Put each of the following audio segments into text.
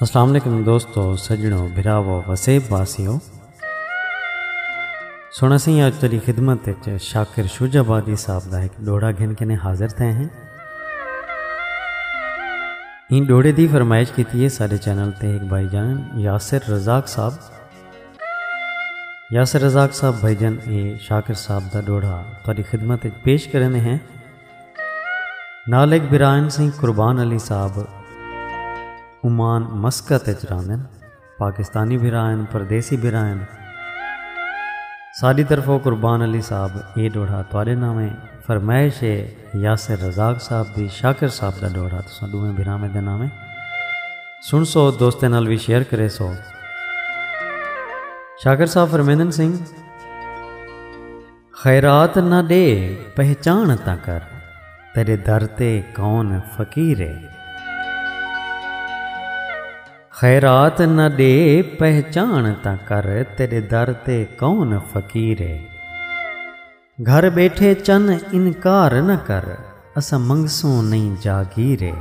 السلام علیکم دوستو سجنو بھراو وسیب واسیو سونا سی آج تیری خدمت شاکر شوج آبادی صاحب دا ایک ڈوڑا گھن کے حاضر تھے ہیں ان ڈوڑے دی فرمائش کی تھی ہے سارے چینل تے ایک بھائی جان یاسر رزاق صاحب یاسر رزاق صاحب بھائی جان اے شاکر صاحب دا ڈوڑا تیری خدمت پیش کرنے ہیں نال ایک برائن سی قربان علی صاحب عمان مسکت اچ راندن پاکستانی برائن پردیسی برائن ساری طرف قربان علی صاحب اے ڈوڑا تواڈے نامے فرمائش ہے یاسر رزاق صاحب دی شاکر صاحب دا ڈوڑا تساں دوویں بھراویں دے نامے سن سو دوستیں نال وی شیئر کرے سو شاکر صاحب فرمیندن سنگھ خیرات نہ ڈے پہچان تاں کر تیرے در تے کون فقیر ہے۔ خیرات نہ ڈے پہچان تاں کر تیرے در تے کون فقیر ہے۔ گھر بیٹھے چن انکار نہ کر اساں منگسوں نہیں جاگیر ہے۔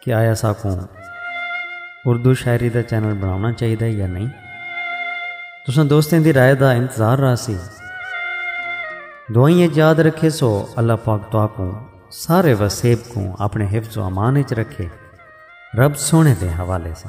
کہ آیا ساکوں اردو شاعری دا چینل بناونا چاہیے یا نہیں تساں دوستیں دی رائے دا انتظار رہا سی دعائیں یاد رکھے سو اللہ پاک تو کو سارے وسیب کو اپنے حفظ و امان اچ رکھے رب سونے دے حوالے سے